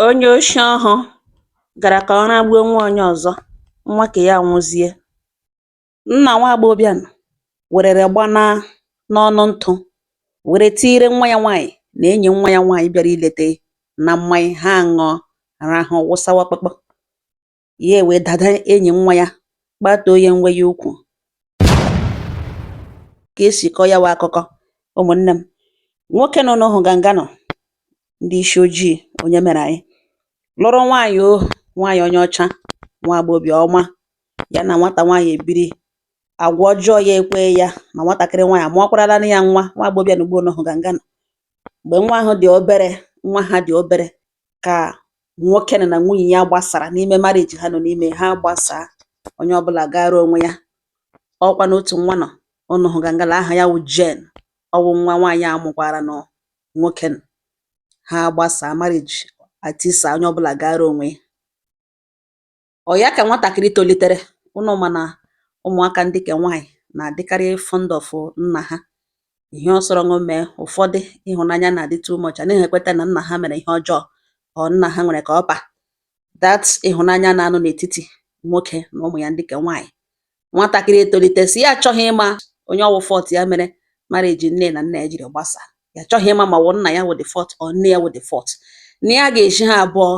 Onye oshi ọhụ gara ka ọ ragbuo nwa onye ọzọ, nwa ke ya anwụzie. Nna nwa agbọghọbịa nụ werere gbana n'ọnụ ntụ were tiire nwa ya nwaanyị na enyi nwa ya nwaanyị bịara ilete na mmanya ha aṅụọ rahụ wụsawa kpakpọ. ya ewee dada enyi nwa ya kpatuo ya nwe ya ukwu ka esi kọọ ya wụ akụkọ ụmụnne m nwoke nụ ụnụ hụ ganga nụ ndị isi ojii onye mere anyị lụrụ nwaanyị ọ nwaanyị onye ọcha nwa agbọghọbịa ọma ya na nwata nwaanyị ebiri agwa ọjọọ ya ekwe ya ma nwatakịrị nwaanyị amụọkwarala ya nwa nwa agbọghọbịa na ugbo ụnụ hụ ganga nụ mgbe nwa ahụ dị obere nwa ha dị obere ka nwoke nụ na nwunye ya gbasara n'ime marriage ha nọ n'ime ha gbasaa onye ọbụla gaara onwe ya ọkwanụ otu nwa nụ ụnụ hụ gangala aha ya wụ Jane ọwụ nwa nwaanyị a mụkwaranụ nwoke nụ. ha gbasaa marriage atisa onye ọbụla gaara onwe ya Ọ ya ka nwatakịrị tolitere, ụnụ ma na ụmụaka ndị ke nwaanyị na-adịkarị fond of nna ha. Ihe ọ sọrọ nụ mee, ụfọdụ ịhụnanya na-adị too much, anaghị ekweta na nna ha mere ihe ọjọọ or nna ha nwere ka ọ pa. That ịhụnanya na-anọ n'etiti nwoke na ụmụ ya ndị ke nwaanyị. Nwatakịrị etolite sị ya achọghị ịma onye ọwụ fault ya mere marriage nne na nna ya jiri gbasaa. Ya achọghị ịma ma ọ wụ nna ya wụ the fault or nne ya wụ the fault. Na ya ga-ezi ha abụọ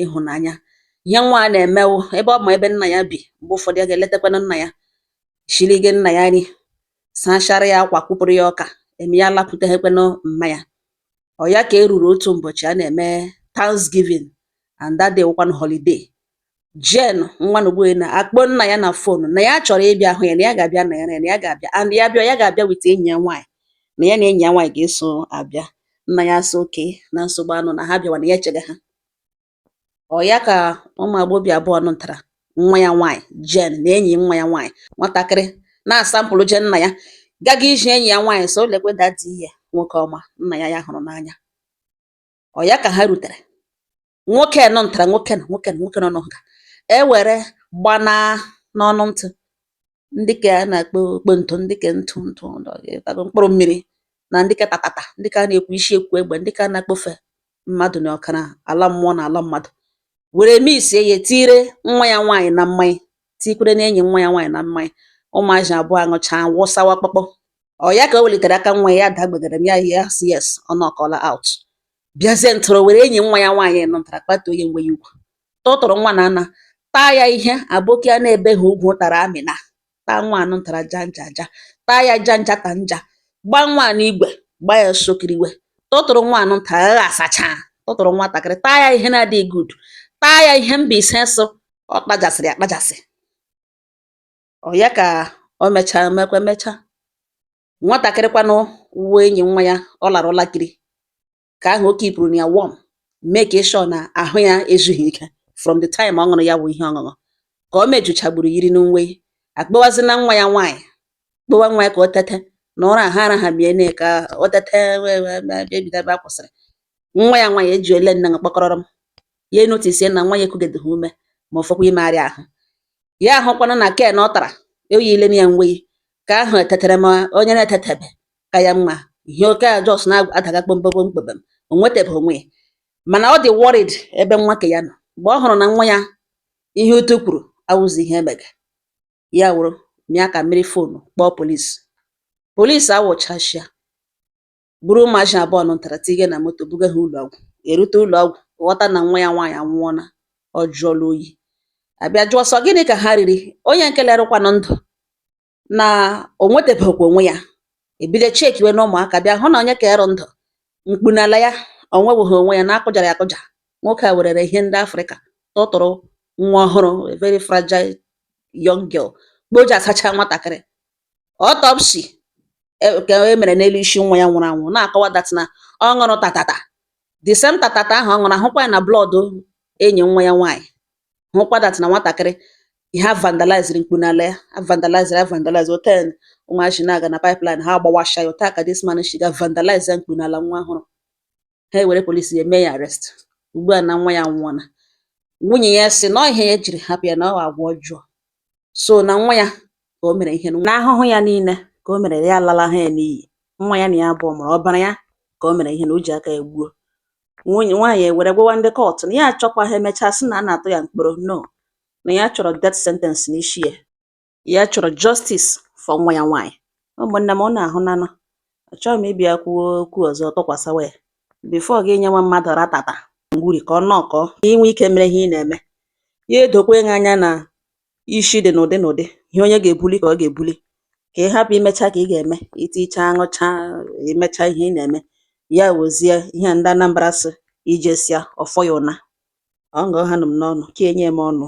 ịhụnanya ihe nwa a na-eme wụ ebe ọ ma ebe nna ya bi mgbe ụfọdụ ya ga-eletakwanụ nna ya shirige nna ya nri sachara ya akwa kwụpụrụ ya ọka eme ya lakwuteghekwanụ mma ya ọ ya ka e ruru otu ụbọchị a na-eme Thanksgiving and that day wụkwanụ holiday Jane nwa Nogbuehi na akpọ nna ya na phone na ya chọrọ ịbịa hụ ya na ya ga-abịa na ya na ya ga-abịa and ya bịa ya ga-abịa with enyi ya nwaanyị na ya na enyi ya nwaanyị ga-eso abịa nna ya asị okay na nsogbu anọ na ha bịawa na ya echega ha ọ ya ka ụmụ agbọghọbịa abụọ nụtara nwa ya nwaanyị Jane na enyi nwa ya nwaanyị nwatakịrị na-asamplụ je nna ya gaga iji enyi ya nwaanyị sị o lekwe daddy ya nwoke ọma nna ya ya hụrụ n'anya ọ ya ka ha rutere nwoke nụ ntara nwoke nụ nwoke nụ nwoke nụ ụnụ hụ ga ewere gbana n'ọnụ ntụ ndị ke a na-akpọ okpo ntụ ndị ke ntụ ntụ tago mkpụrụ mmiri na ndị ke tatata ndị ke a na-ekwu isi ekwu egbe ndị ke a na-akpọfe mmadụ na ọkara ala mmụọ na ala mmadụ were mixie ya tiire nwa ya nwaanyị na mmanya tikwerenụ enyi nwa ya nwaanyị na mmanya ụmụazị abụọ aṅụchaa wụsawa kpọkpọ ọ ya ka o welitere aka nwa ya daa gbegaram ya ya sị yes ọ knockọla out bịazie ntụrụ were enyi nwa ya nwaanyị nụtara kpatuo ya nwe ya ukwu tụtụrụ nwa na ana taa ya ihe aboki a na-ebeghị ugwu tara amịna taa nwa nụ ntara janja aja taa ya janja ta nja gba nwa nụ igwe gba ya sokiriwe tụtụrụ nwa nụ nta agha asacha tụtụrụ nwatakịrị taa ya ihe na-adịghị good taa ya ihe Mbaise sị ọ kpajasịrị akpajasị ọ ya ka o mechaa mekwa mechaa nwatakịrị kwanụ wụ enyi nwa ya ọ lara ụlakiri ka ahụ o kipụrụ na ya warm make sure na ahụ ya ezughị ike from the time ọ ṅụrụ ya bụ ihe ọṅụṅụ ka o mejuchagburu yiri nweyi akpọwazi na nwa ya nwaanyị kpọwa nwa ya ka o tete na ụra ha arahamiene ka o tete ebido ebe a kwụsịrị nwa ya nwaanyị eji ole nne kpọkọrọrọ m ya enotisie na nwa ya ekugedeghị ume ma ọ fọkwa imegharị ahụ ya ahụkwana na ken ọ tara o yilene ya nweyi ka ahụ etetere ma onye na-etetebe ka ya mma ihe oke a just na-adaga kpomkpom kpebem o nwetebeghị onwe ya mana ọ dị worried ebe nwa ke ya nọ mgbe ọ hụrụ na nwa ya ihe utu kwuru awụzi ihe emege ya wụrụ mịa aka mịrị fonu kpọọ polisi polisi awụchashịa buru ụmụazị abụọ nụ ntara tinye na moto buga ha ụlọ ọgwụ erute ụlọ ọgwụ ghọta na nwa ya nwaanyị anwụọla ọ jụọla oyi abịa jụọ sọ gịnị ka ha riri onye nke lerụkwanụ ndụ na o nwetebekwa onwe ya ebido chekiwe na ụmụaka bịa hụ na onye ka ịrụ ndụ mkpu n'ala ya ọ nwebeghị onwe ya na a kụjara ya akụja nwoke a werere ihe ndị afrịka tụtụrụ nwa ọhụrụ a very fragile young girl mgbe o ji asacha nwatakịrị autopsy ka e mere n'elu isi nwa ya nwụrụ anwụ na-akọwa that na ọ ṅụrụ tatata the same tatata ahụ ọ ṅụrụ ahụkwa ya na blọọdụ enyi nwa ya nwaanyị hụkwa that na nwatakịrị ihe a vandaliziri mkpu n'ala ya a vandaliziri avandalize otu ụmụazị na-aga na pipeline ha agbawasha ya otu a ka this man si ga vandalize ya mkpu n'ala nwa ọhụrụ ha ewere polisi ya mee ya arrest ugbu a na nwa ya nwụọla nwunye ya sị na ọ ihe ya jiri hapụ ya na ọ agwa ọjọọ so na nwa ya ka o mere ihe na ahụhụ ya niile ka o mere ya alala ha ya n'iyi nwa ya na ya abụọ mụrụ ọbara ya ka o mere ihe na o ji aka ya gbuo nwaanyị ewere gwawa ndị kọtụ na ya achọkwaghị emechaa sị na a na-atụ ya mkpọrọ no na ya chọrọ death sentence n'isi ya ya chọrọ justice for nwa ya nwaanyị ụmụnne m unu ahụnanụ achọghị m ịbịa kwuo okwu ọzọ tụkwasịwa ya before gị nyewa mmadụ ratata ngwuri ka ọ nọkọọ ka i nwee ike mere ihe ị na-eme ya edokwa gị anya na isi dị n'ụdị n'ụdị ihe onye ga-ebuli ka ọ ga-ebuli ka ị hapụ imecha ka ị ga-eme i tichaa ṅụchaa i mecha ihe ị na-eme ya wezie ihe ndị Anambra sị i jesịa ọ fọ ya ụna ngwa hanụ m n'ọnụ ka enye m ọnụ